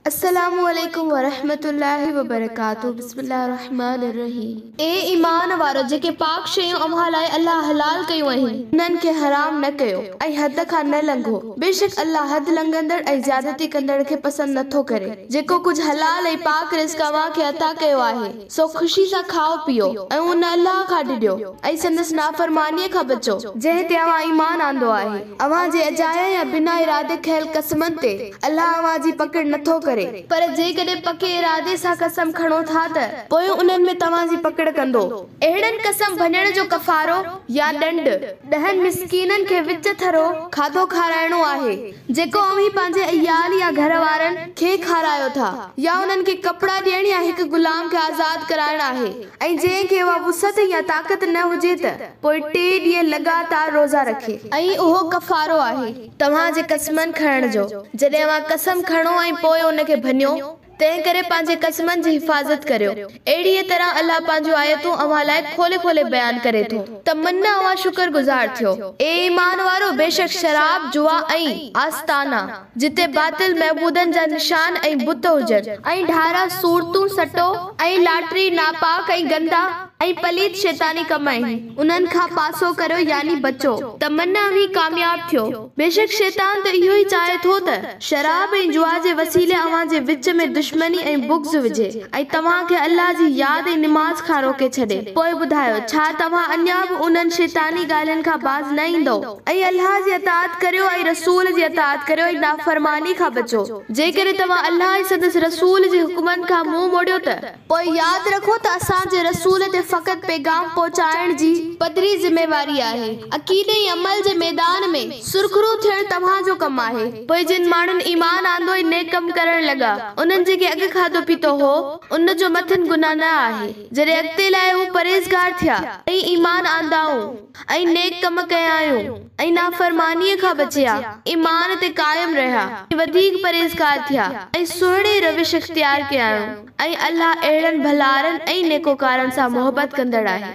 السلام عليڪم ورحمة الله وبرڪاته بسم الله الرحمٰن الرحيم اي ايمان وارؤ جيڪي پاڪ شيون اوهان لاء الله حلال ڪيون آهن انهن کي حرام نه ڪيو ۽ حد کان نه لنگهو بيشڪ الله حد لنگهندڙ ۽ زيادتي ڪندڙ کي پسند نه ٿو ڪري جيڪو ڪجهه حلال ۽ پاڪ رزق اوهان کي عطا ڪيو آهي سو خوشي سان کائو پيئو ۽ ان الله کان ڊڄو ۽ سندس نافرمانيء کان بچو، جنهن تي اوهان ايمان آندو آهي، اوهان جي اجايا يا بنا ارادي کنيل قسمن تي الله اوهان جي پڪڙ نه ٿو ڪري، پر جيڪڏهن پڪي ارادي سان قسم کڻو ٿا ته پوء انهن ۾ توهان جي پڪڙ ڪندو. اهڙن قسم ڀڃڻ جو ڪفارو يا ڏنڊ، ڏهن مسڪينن کي وچ ٿرو کاڌو کارائڻو آهي. جيڪو اوهين پنهنجي عيال يا گهر وارن کي کارايو ٿا يا انهن کي ڪپڙا ڏيڻ يا هڪ غلام کي آزاد ڪرائڻ آهي ۽ جنهن کي اها وسعت يا طاقت نه هجي ته پوء ٽي ڏينهن لڳاتار روزا رکي. ۽ اهو ڪفارو آهي توهان جي قسمن کڻڻ جو جڏهن اوهان قسم کڻو ۽ پوء ان کي ڀڃو. تنهن ڪري پنهنجي قسمن جي حفاظت ڪريو. اهڙيء طرح الله پنهنجون آيتون اوهان لاء کولي کولي بيان ڪري ٿو ته من اوهان شڪر گذار ٿيو. اي ايمان وارؤ! بيشڪ شراب، جوا ۽ آستانا، جتي باطل معبودن جا نشان ۽ بت هجن، ۽ ڍارا، صورتون، سٽو ۽ لاٽري ناپاڪ ۽ گندا ۽ پليت شيطاني ڪم آهن، انهن کان پاسو ڪريو يعني بچو ته من اوهين ڪامياب ٿيو. بيشڪ شيطان ته اهو ئي چاهي ٿو ته شراب ۽ جوا جي وسيلي اوهان جي وچ ۾ دشمني ۽ بغض وجهي ۽ توهان کي الله جي ياد ۽ نماز کان روڪي ڇڏي. پوء ٻڌايو، ڇا توهان اڃا به انهن شيطاني ڳالهين کان باز نه ايندؤ؟ ۽ الله جي اطاعت ڪريو ۽ رسول جي اطاعت ڪريو ۽ نافرماني کان بچو. جيڪڏهن توهان الله ۽ سندس رسول جي حڪمن کان منهن موڙيو ته. پوء ياد رکو ته اسان جي رسول تي فقط پيغام پهچائڻ جي پڌري ذميواري آهي. عقيدي ۽ عمل جي ميدان ۾ سرخرو ٿيڻ توهان جو ڪم آهي. پوء جن ماڻهن ايمان آندو ۽ نيڪ ڪم ڪرڻ لڳا، انهن جيڪي اڳ کاڌو پيتو هو، ان جو مٿن گناهه نه آهي، جڏهن اڳتي لاء هو پرهيزگار ٿيا ۽ ايمان آندائون. ۽ نيڪ ڪم ڪيائون ۽ نافرمانيء کان بچيا، ايمان تي قائم رهيا ۽ وڌيڪ پرهيزگار ٿيا ۽ سهڻي روش اختيار ڪيائون ۽ الله اهڙن ڀلارن ۽ نيڪوڪارن سان محبت ڪندڙ آهي.